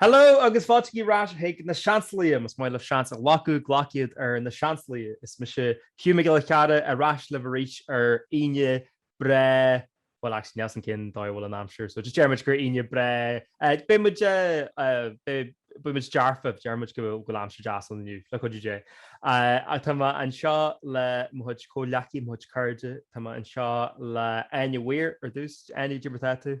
Hello agus fáiltígí ar ais chuig na Seansálaithe. Más maith libh seans a ghlacadh, glac iad ar na Seansálaithe. Is mise Hugh Mac Giolla Chearra ar ais libh arís ar Aoine breá, bhuel actually níl 's againn dá bhfuil an aimsir so just déarfaimid gur Aoine breá, beidh muid beidh muid dearfach, déarfaidh muid go bhfuil aimsir deas ann inniu, le cuidiú Dé. Ach tá mé anseo le mo chuid comhghleacaithe, mo chuid cairde, tá mé anseo le Áine Weir ar dtús, Áine, cad é mar atá tú?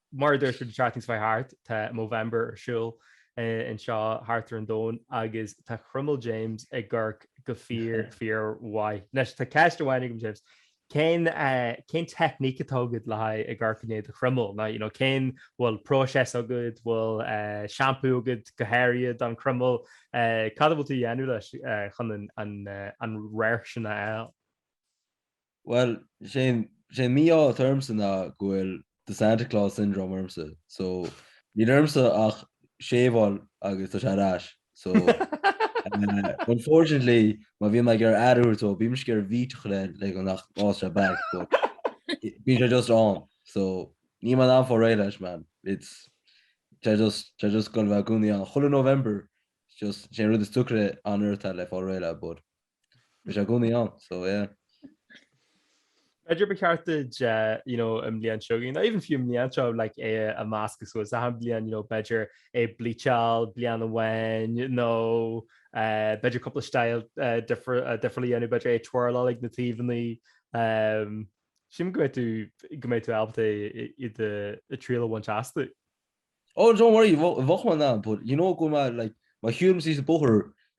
Mar a dúirt muid an tráth níos faide thart, tá Movember ar siúl anseo thart ar an Domhan agus tá croiméal James ag amharc go fíor fíor mhaith. Anois tá ceist amháin agam James, cén cén teicníc atá agat le haghaidh ag amharc i ndiaidh do chroiméal? Ná you know cén bhfuil próiseas agat, bhfuil seampú agat go háirithe don chroiméal, cad a bhfuil tú a dhéanamh leis chun an radharc sin a fháil? Bhuel, sé an mí-ádh atá ormsa ná go bhfuil The Santa Claus Syndrome ormsa, so níl ormsa ach shave-áil agus tá sé ar ais. So, unfortunately, má bhíonn mé ag ar ad uair atá, bímisc ar bhítach le le go nach bhfásfaidh sé back, but bíonn sé just ann. So níl mé in ann fáil réidh leis, man. It's sé just sé just go bheith i gcónaí ann. Chuile November, just sé an rud is deacra an fhear atá le fáil réidh le, but. Bhí sé i gcónaí ann, so yeah. B'fhéidir ba cheart duit you know, an bhliain seo, not even fiú an bhliain seo, like, é a meascadh suas so, achan bhliain, you know, b'fhéidir é bleach-eáil bliain amháin nó eh, b'fhéidir cúpla style eh, difr- eh, difriúil a dhéanamh, b'fhéidir é twirl-eáil ag na taobhannaí. em, Sílim go mbeidh tú, go mbeidh tú ábalta i- i do triail a bhaint astu. Oh, don't worry, bheadh mé in ann, but you know go mbeadh, like, má shiúlaim suas an bóthar,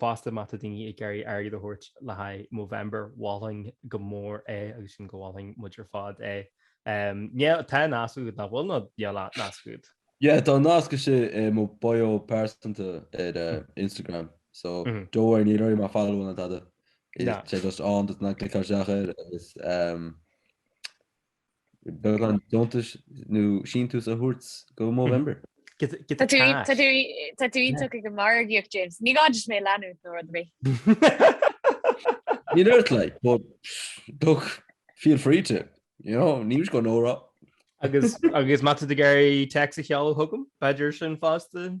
fosta má tá daoine ag iarraidh airgead a thabhairt le haghaidh Movember, mholfainn go mór é agus sílim go molfadh muid ar fad é. Yeah, tá nasc agat, nach bhfuil? Nó níl nasc agat? Yeah, tá nasc istigh i mo bio pearsanta ar Instagram. So, don't worry, níl oraibh mé a follow-áil ná tada. Is é just ann duit ach cliceáil isteach air agus. beagán deontais nó síntiús a thabhairt go Movember. Tá tú iontach ag an margaíocht, James. Ní gá duit mé a leanúint nó rud ar bith. Níl ort like, but look, feel free to, you know, níl go Nóra. Agus má tá tú ag iarraidh téacs a sheoladh chugam, b'fhéidir sin fosta.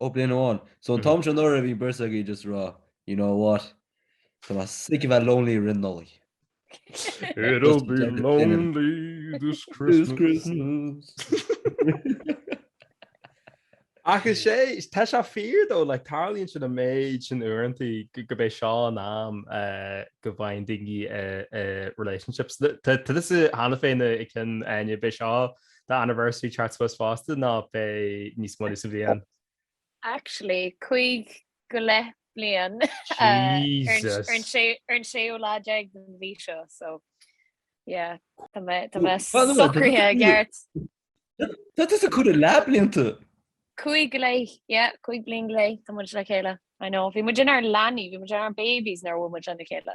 Ó bliain amháin. So an t-am seo anuraidh bhí an bheirt agaibh just a rá, you know what, tá mé sick of that lonely roimh Nollaig. It'll be lonely this Christmas. Agus sé, tá sé fíor dó, like tarlaíonn sin an méid sin uaireanta gurb é seo an am go bhfaigheann daoine relationships. Tá tusa cheana féin i gceann Áine, b'é seo the anniversary chart supposed fosta ná beidh níos moille sa bhliain? Actually, cúig go leith bliain ar an séú lá déag den mhí seo so yeah Tá mé socraithe i gceart. That is a good lot blianta. Cúig go leith cúig bliain go leith tá muid le chéile I know bhí muid inár leanaí bhí muid inár babies nuair a bhuail muid lena chéile.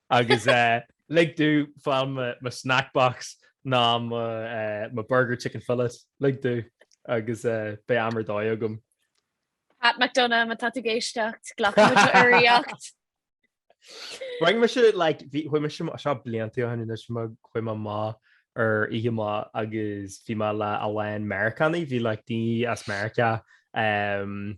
Agus lig domh fáil mo snack box ná mo burger chicken fillet, lig domh agus beidh am ar dóigh agam. Pat McDonagh, má tá tú ag éisteacht, glacfaidh muid do urraíocht. Bhain mise like bhí chuaigh mise seo blianta ó shin anois ach chuaigh mé amach ar oíche amach agus bhí mé amach le a lán Meiriceánaigh bhí like daoine as Meiriceá um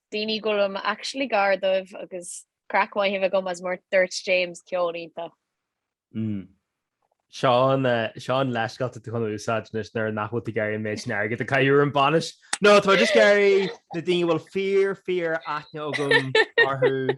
Daoine go bhfuil mé actually gar dóibh agus craic mhaith a bheith agam agus mar a dúirt James ceol iontach. mm. Seo an, seo an leithscéal atá tú chun úsáid anois nuair nach bhfuil tú ag iarraidh an méid sin airgid a chaitheamh ar an bainis. No, tá mé just ag iarraidh na daoine a bhfuil fíor, fíor aithne agam orthu.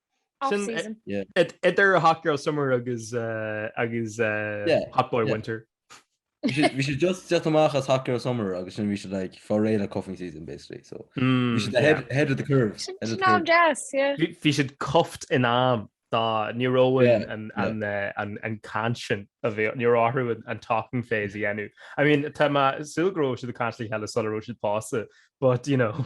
Sin idir Hot Girl Summer agus Hot Boy Winter. Bhí siad just ag teacht amach as Hot Girl Summer agus sin bhí siad like fá réidh le cuffing season basically so bhí siad ahead of the curve. Bhí siad cuffed in am dá ní raibh an caint sin a bhí ní raibh orthu an talking phase a dhéanamh. I mean tá mé ag súil go raibh siad ag caint le chéile sula raibh siad pósta but you know.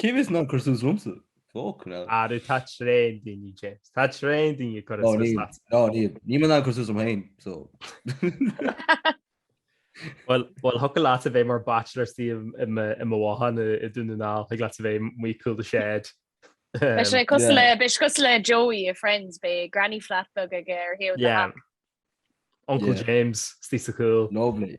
Cé a bheas in ann cur suas liomsa? Fucking hell. Arú, tá tréan daoine, James. Tá tréan daoine ag cur suas leat. No níl. Níl mé in ann cur suas liom féin, so. Bhuel, bhuel, thiocfadh leat a bheith mar bachelor istigh i mo bhothán i Dún na nGall, thiocfadh leat a bheith amuigh cúl the shed. Beidh sé cosúil le, beidh sé cosúil le Joey i Friends, beidh granny flat beag aige ar thaobh na Yeah. hac. Uncle Yeah. James, istigh sa chúl. Lovely.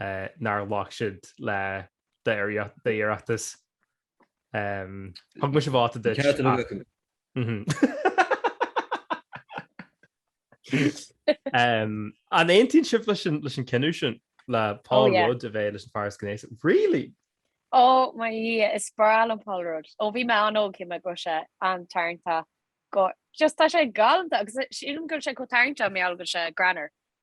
nár ghlac siad le d'iarratas. Thug mise vóta duit. Ceart a bheith acu. An aontaíonn sibh leis an cinneadh sin le Paul Rudd a bheith leis an fear is gnéasaí? Really? Ó mo Dhia, is breá liom Paul Rudd. Ó bhí mé an-óg shíl mé go raibh sé an-tarraingteach. Just tá sé galanta agus sílim go raibh sé chomh tarraingteach mar gheall go raibh sé greannmhar.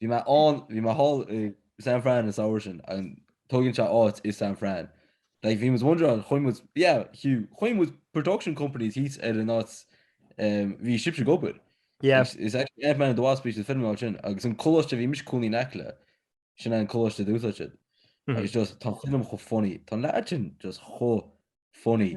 Bhí mé ann, bhí mé thall i San Fran an samhradh sin, an tóigeann sé áit i San Fran? Like bhí muid wondering an chuaigh muid, yeah, Hugh, chuaigh muid production company thíos ar an áit um, bhí sibhse ag obair. Yeah. It's, it's actually Ant-Man and the Wasp is an film áit sin, agus an coláiste a bhí mise i mo chónaí in aice leis, sin an coláiste a d'úsáid siad. Mhm. Agus just, tá an film chomh funny, tá an leaid sin just chomh funny.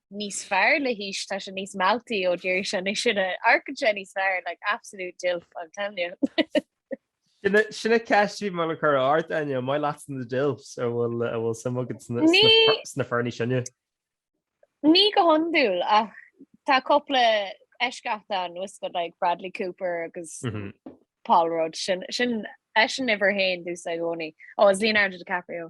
níos fearr le haois, tá sé níos mealltaí ó d'éirigh sé níos sine, amharcann sé níos fearr, like absolute dilf I'm telling you. Sin an cheist a bhí mé le cur ort, a Áine, an maith leatsa na dilfs an bhfuil suim agat sna fir níos sine? Ní go hiondúil ach tá cúpla eisceacht ann, tá a fhios agat like Bradley Cooper agus Paul Rudd, sin eisean uimhir a haon domsa i gcónaí. Ó agus Leonardo DiCaprio.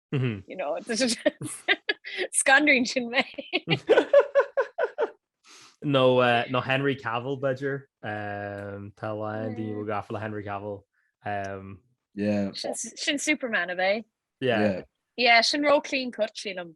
Scanraíonn sin mé. No no Henry Cavill b'fhéidir tá a lán daoine a bhfuil gafa le Henry Cavill. sin Superman ab ea? Yeah, yeah, tá sé ró clean cut sílim.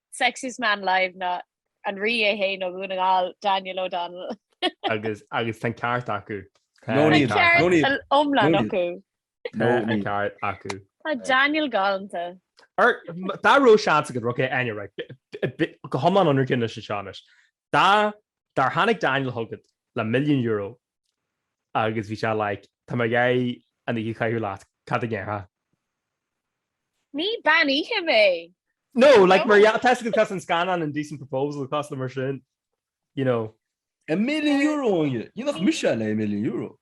Sexiest man alive ná an rí é fhéin ó Dhún na nGall, Daniel O'Donnell. agus agus tá an ceart acu. Tá an ceart iomlán acu. Tá an ceart acu. Tá Daniel galanta. Ar, dá raibh seans agat, right okay, bí go hiomlán ionraic anois anseo anois, Dá dá dtáinig Daniel chugat le milliún euro agus bhí sé like, tá mé ag iarraidh an oíche a chaitheamh leat, cad a dhéarfá? Ní bean oíche mé! No, like mar dhea, tá sé cosúil leis an scannán Indecent Proposal cosúil leis sin, you know. A milliún euro agus dhéanfadh mise ar milliún euro.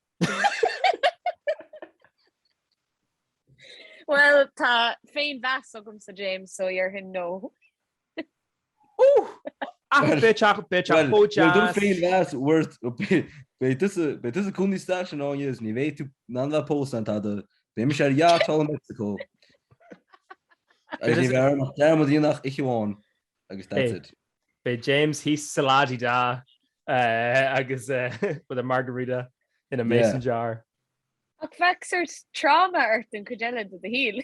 Well, tá féinmheas agamsa James so ar hin nó. Ach beidh teach, beidh teach chomh deas. Bhuel tá féinmheas worth, beidh tusa, beidh tusa i gcouncil estate in Ennis, ní bheidh tú in ann bheith ag pósadh ná tada, beidh mise ar yacht thall i Meicsiceo agus ní bheidh orm ach dearmad a dhéanamh ar oíche amháin agus that's it. Beidh James thíos sa la-di-da agus with a margarita in a mason jar. Ach bheadh sort tráma ort an chuid eile de do shaol.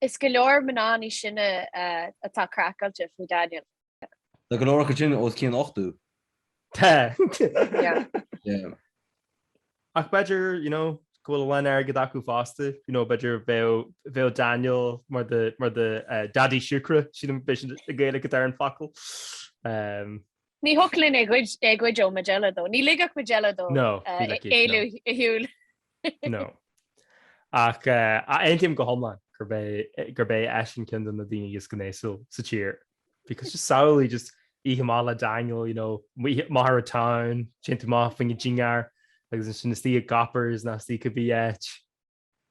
Is go leor mná níos sine atá craiceáilte faoi Daniel. Tá go leor acu sin os cionn ochtó. Tá. Yeah. Ach b'fhéidir, you know, go bhfuil a lán airgid acu fosta, you know, b'fhéidir bheadh Daniel mar the, mar the uh, daddy siúcra, sin an, beidh sin an Ghaeilge atá ar an fhocal. Um, Ní thiocfadh linn é a ghoid, é a ghoid ó Majella though. Ní ligfeadh Majella dó No, ní ligfidh, uh, no. éalú ar shiúl. No. Ach aontaím go hiomlán gurb é eisean ceann de na daoine is gnéasúil sa tír. Because just samhlaigh just oíche mhaith le Daniel, you know, we hit the town, téann tú amach fá choinne dinnéar agus ansin isteach i gCoppers nó isteach cibé áit.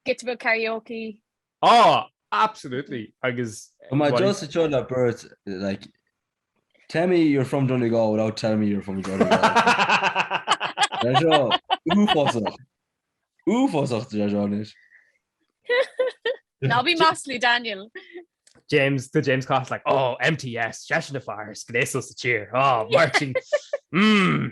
Giota beag karaoke, Ah! Absolutely! Agus But my bhí. Joseph Joe na Birds, like, tell me you're from Donegal without telling me you're from Donegal. Deir seo uafásach. Uafásach, deir seo anois. Ná bí maslaí, Daniel. James, the James Cost, like, oh, MTS, seisean na fear, is gnéasal sa tír, oh, Martin, mmm,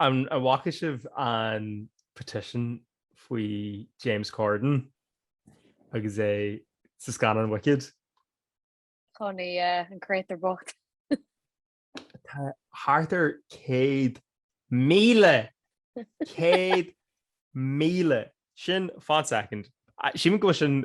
An bhfaca sibh an petition faoi James Corden agus é sa scannán Wicked? Chun é eh, an crétar bocht. Tá thart ar céad míle céad míle sin fan second. Suim acu sin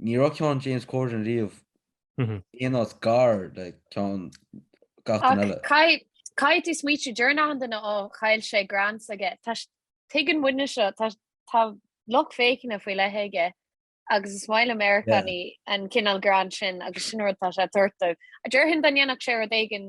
ní raibh ceann James Corden riamh aon áit gar le ceann gach duine eile. Ach caithfidh tú smaoitiú, deireann achan duine, ó chaill sé grants aige. Tá, tuigeann muidne seo, tá lucht féachana faoi leith aige agus is maith le Meiriceánaigh an cineál greann sin agus sin an rud atá sé ag tabhairt dóibh. Déarfainn dá ndéanfadh sé rud éigin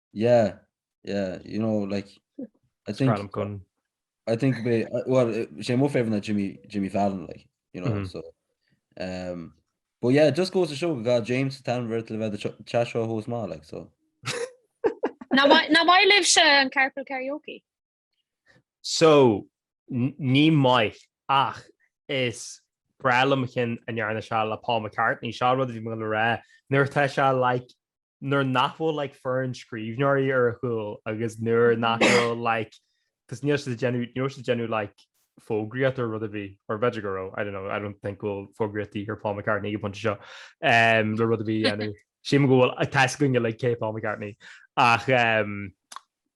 Yeah, yeah, you know, like I think Gun. I think be uh, well uh, she more favorite than Jimmy Jimmy Fallon, like you know, mm-hmm. so um but yeah, it just goes to show got James Tanver to the ch- chat show host ma like so. now why now why live she and carpool karaoke? So, ní maith, ach is breá liom an ceann a ndearna sé le Paul McCartney, seo rud a bhí mé le rá, nuair atá sé like, nuair nach bhfuil like foireann scríbhneoirí ar a chúl agus nuair nach bhfuil like, cos níl siad ag déanamh, níl siad ag déanamh like fógraíocht ar rud ar bith, or b'fhéidir go raibh, I don't know, I don't think go bhfuil fógraíocht de dhíth ar Paul McCartney ag an bpointe seo, um, le rud ar bith a dhéanamh. Sílim go bhfuil, tá 's againne like cé Paul McCartney, ach um,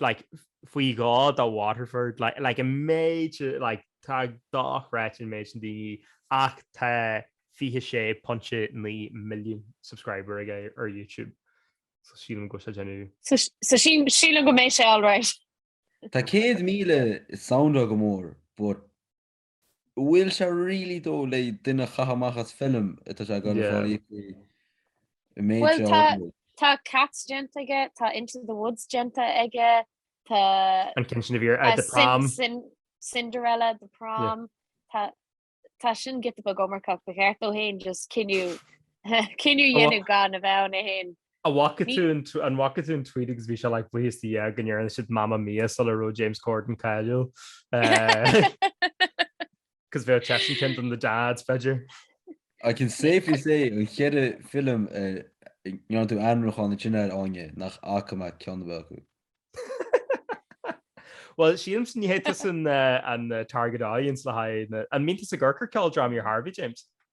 like faoi dhá dá Waterford like like a méid like tá dá chreat an méid sin daoine ach tá 26.9 milliún subscriber aige ar YouTube so sílim go bhfuil sé ag déanamh so sílim go mbeidh sé all right tá 100,000 soundáil go mór but Bhfuil sé really though le duine a chaitheamh amach as film atá sé ag obair fán fhiacraí i méid Bhuel, seo tá, acu? tá Cats déanta aige, tá Into the Woods déanta aige, tá an ceann sin a bhí ar, uh, The Prom. Cin- Cin- Cinderella, The Prom, tá, tá sin giota beag iomarcach, ba cheart dó fhéin just cinneadh, cinneadh a Ó. dhéanamh gan a bheith ann é fhéin. An bhfaca tú an tweet agus bhí sé like buíochas le Dia go ndearna siad Mamma Mia sular raibh James Corden cáiliúil. Cos bheadh seisean ceann de na dads b'fhéidir. I can safely say na ceithre film a ndearna tú ainmniúchán an tine ar fháinne nach bhfaca mé ceann ar bith acu. Bhuel sílimse ní hé tusa an target audience le haghaidh na... An mbíonn tusa ag amharc ar cheoldrámaí ar chor ar bith, James?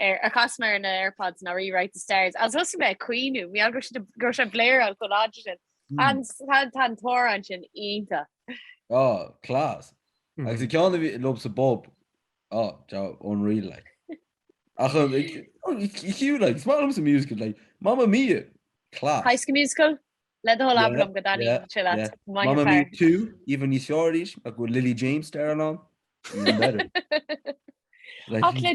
ar a chas mé ar na Airpods ná Rewrite the Stars, agus thosaigh mé ag caoineadh, mar gheall go raibh siad go raibh sé ag bléireáil chomh láidir sin, an tá tá an t-amhrán sin iontach. Oh, class. Agus an ceann a bhí liomsa bop, oh, joe, unreal like. Ach an, oh, it's cute like, is maith liomsa musical like, Mamma Mia, class. High School Musical? Le do thoil abair liom go dtaitníonn sé leat, Mamma Mia 2, Even níos fearr arís ach go bhfuil Lily James starring ann, even better. Ach le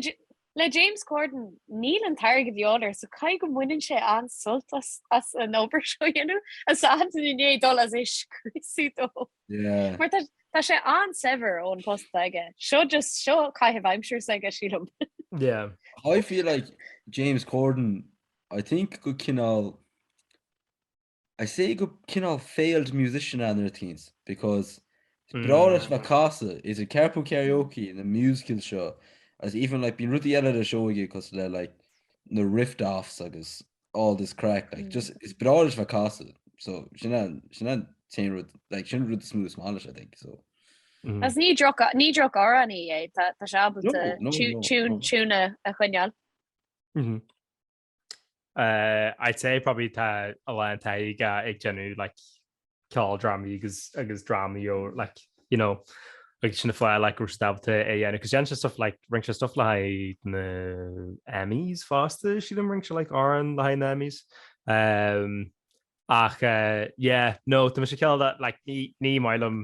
le James Corden, níl an t-airgead de dhíobháil air so caithfidh go mbaineann sé an-sult as as an obair seo a dhéanamh, a sanntan inné dul as é scriosadh dó. Yeah. Mar tá tá sé an-saibhir ón post atá aige. Seo just, seo caitheamh aimsire s'aige sílim. Yeah. I feel like James Corden, I think go cineál I'd say go cineál failed musician ann ar a teens because is breá leis a bheith ag casadh idir Carpool Karaoke na musicals seo agus even like bíonn rudaí eile ar a seó aige cosúil le like na riff-offs agus all this crack like just is breá leis a bheith ag casadh so sin an sin an t-aon rud like sin an rud is mó is maith leis I think so. Agus ní droch ní drochamhránaí é tá tá sé ábalta No, no, no, no. tiún tiún a a choinneáil. I'd say probably tá a lán taithí aige ag déanamh like ceoldrámaí agus agus drámaí ó like you know agus sin an fáth like go raibh siad ábalta é a dhéanamh agus déanann sé stuff like rinne sé stuff le haghaidh na Emmys fosta sílim rinne sé like amhrán le haghaidh na Emmys um, ach uh, yeah no tá mise cineál like ní ní maith liom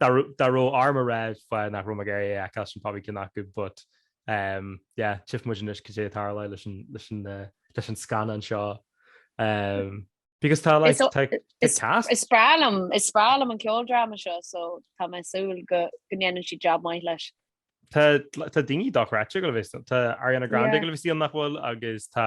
Dá raibh orm a rá fáth nach raibh mé ag iarraidh a fheiceáil sin probably ceann acu but yeah, tchífidh muid anois cad é a tharlóidh leis an scannán seo because tá like tá cast. Is breá liom, is breá liom an ceoldráma seo so tá mé ag súil go ndéanann siad jab maith leis. Tá daoine dochreidte ag gabháil a bheith istigh ann, tá Ariana Grande ag gabháil a bheith istigh ann nach bhfuil agus tá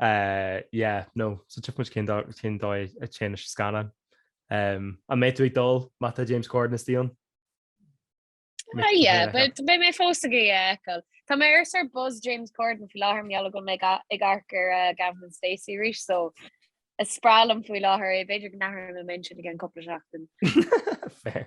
Yeah, no so tchífidh muid cén dóigh cén dóigh a dtéann leis an scannán. An mbeidh tú ag dul má tá James Corden istigh ann? Yeah, but beidh mé fós ag iarraidh é a fheiceáil. Tá mé ar sórt buzz James Corden faoi láthair mar gheall go bhfuil mé ag amharc ar Gavin and Stacey arís so is breá liom faoi láthair é b'fhéidir go n-athróidh mé m'intinn i gceann cúpla seachtain. Fair.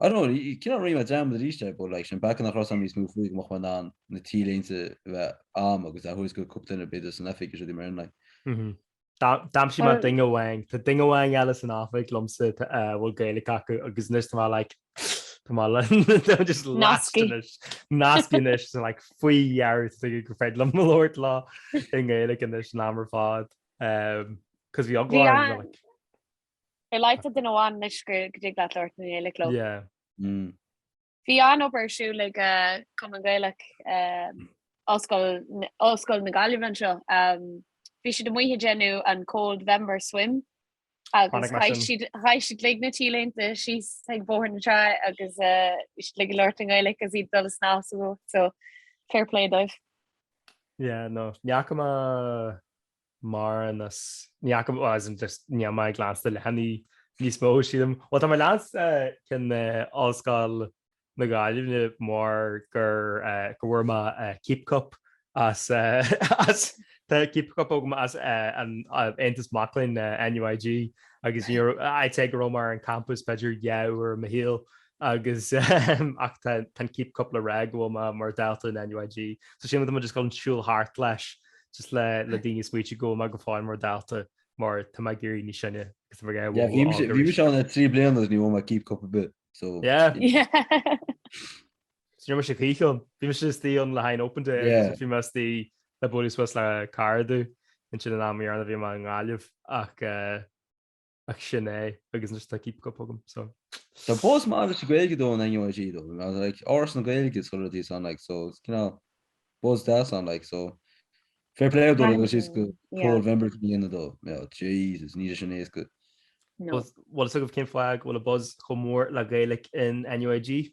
I don't know cén áit, rinne mé dearmad aríst but like, an peaca nach raibh a fhios a'm níos mó faoi go mbeadh mé in ann na t-léinte a bheith a'm agus a thabhairt do cúpla duine b'fhéidir san oifig is rudaí mar sin like. Mhm. D'aimsigh mé duine amháin, tá duine amháin eile san oifig liomsa a bhfuil Gaeilge acu agus anois tá mé like, tá mé like, just lost anois, nasctha anois, so like faoi dheireadh tá duine gur féidir liom labhairt leo i nGaeilge anois an am ar fad, cos bhí eagla orm, like. Ar a laghad tá duine amháin anois go dtig leat labhairt i nGaeilge leo. Yeah. Bhí an-obair ar siúl ag Cumann Gaelach Ollscoil na Gaillimhe anseo. Bhí siad amuigh ag déanamh an Coldvember Swim agus chaith siad uilig na t-léinte síos ag Bóthar na Trá agus bhí siad uilig ag labhairt i nGaeilge agus iad ag dul ag snámh sa bhá so fair play dóibh. Yeah, no, ní fhaca mé mórán as. Ní fhaca, as in just níl mé ag leanstan na leathanaigh níos mó, sílim. Bhuel, tá mé ag leanstan cinn Ollscoil na Gaillimhe mar gur go bhfuair mé Keep Cup as tá Keep Cup agam as an Aontas Mac Léinn, NUIG, agus ní raibh, I'd say go raibh mé ar an campus b'fhéidir dhá uair i mo shaol, agus ach tá an keep cup le rá go bhfuil mé mar dalta in NUIG. So sin rud a mbím just ag siúl thart leis just le le daoine smaoitiú go bhfuil mé go fóill mar dalta mar tá mé ag éirí níos sine agus bhí Yeah, bhí mise- bhí mise ann trí bliana agus ní bhfuair mé keep cup ar bith. So Yeah. Sin mar sé chuíán. Bhí mise istigh ann le haghaidh an open day Yeah. agus bhí mise istigh le bualadh suas le cairde ansin an am deireanach a bhí mé i nGaillimh ach eh, ach sin é agus just like keep cup agam so Tá buzz maith sa Gaeilge though in NUIG though like Áras na Gaeilge is chuireadí san like so it's you know buzz deas ann like so fair play dó agus is go Movember a dhéanamh dó yeah Jesus níl sin éasca No. Bhuel so cén fáth go bhfuil an buzz chomh mór le Gaeilge in NUIG?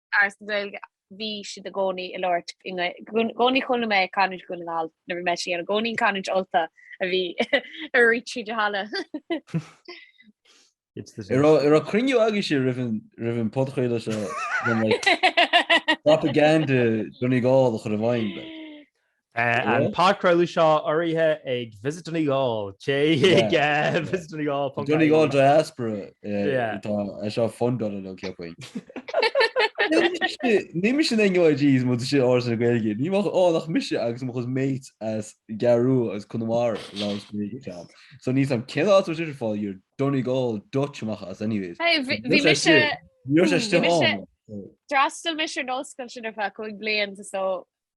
Áras na Gaeilge, bhí siad i gcónaí ag labhairt i gcónaí chuala mé canúint Dhún na nGall nuair a bhí mise ann, i gcónaí an canúint Ultach a bhí ag rith tríd an halla. An raibh cruinniú agaibhse roimh an podchraoladh seo, propaganda Donegal a chur i bhfeidhm. Tá an podchraoladh seo urraithe ag Visit Donegal, téigh ag visitdonegal.ie. Donegal Diaspora atá é seo fundáil nó céard faoi. Bhí mise in NUIG is muid san Áras na Gaeilge. Ní raibh ann ach mise agus mo chuid mates as an gCeathrú Rua agus Conamara a labhairt Gaeilge ann. So níl a fhios agam cén áit a bhfuil sibh ag fáil bhur Donegal Dutch amach as anyways. Hey bhí Bhí mise Níor sé Bhí mise- still on. D'fhreastail mise ar an ollscoil sin ar feadh cúig bliain so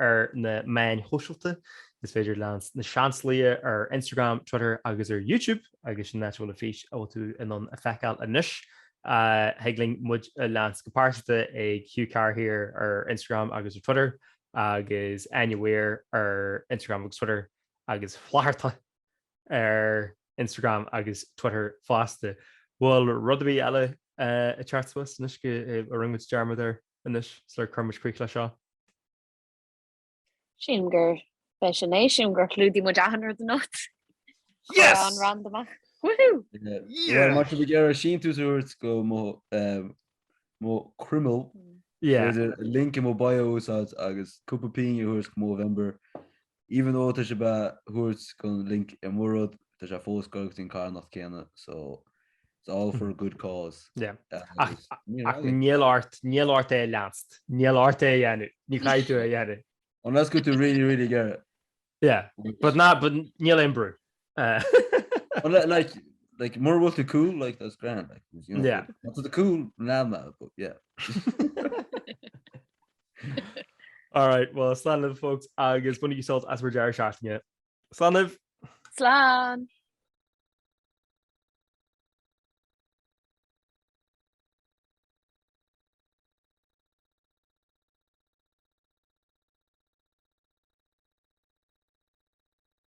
ar na meáin shóisialta, is féidir leanst Na Seansálaithe ar Instagram, Twitter agus ar YouTube, agus sin an áit a bhfuil an fís a bhfuil tú in ann a fheiceáil anois. Thig libh muid a leanst go pearsanta ag Hugh Carr Here ar Instagram agus ar Twitter, agus Áine Weir ar Instagram agus Twitter, agus Flatharta ar Instagram agus Twitter fosta. Bhfuil rud ar bith eile ag teacht suas anois a rinne muid dearmad air? anois sula gcuirimid críoch leis seo. Sílim gurb é sin é. Sílim gur chlúdaigh muid achan rud anocht. Chuir an rant amach. Woohoo! Má tá sibh ag iarraidh síntiús a thabhairt go mo croiméal, b'fhéidir link i mo bio a úsáid agus cúpla pingin a thabhairt go Movember Even though tá sibh á thabhairt don link i mo rud, tá sé fós ag goil go dtí an carthanacht céanna, so it's all for a good cause. Yeah. Agus níor Ach mhaith liom. níl ort, níl ort é a leanst. Níl ort é a dhéanamh. Ní chaithfidh tú é a dhéanamh. Unless go bhfuil tú really, really ag iarraidh. Yeah. But ná, but níl aon brú. Uh, but like, like, like more what the cool like that's grand like you know, yeah that's the cool nama but yeah all right well slan of folks I guess when you salt as we're Jerry shafting it slan of slan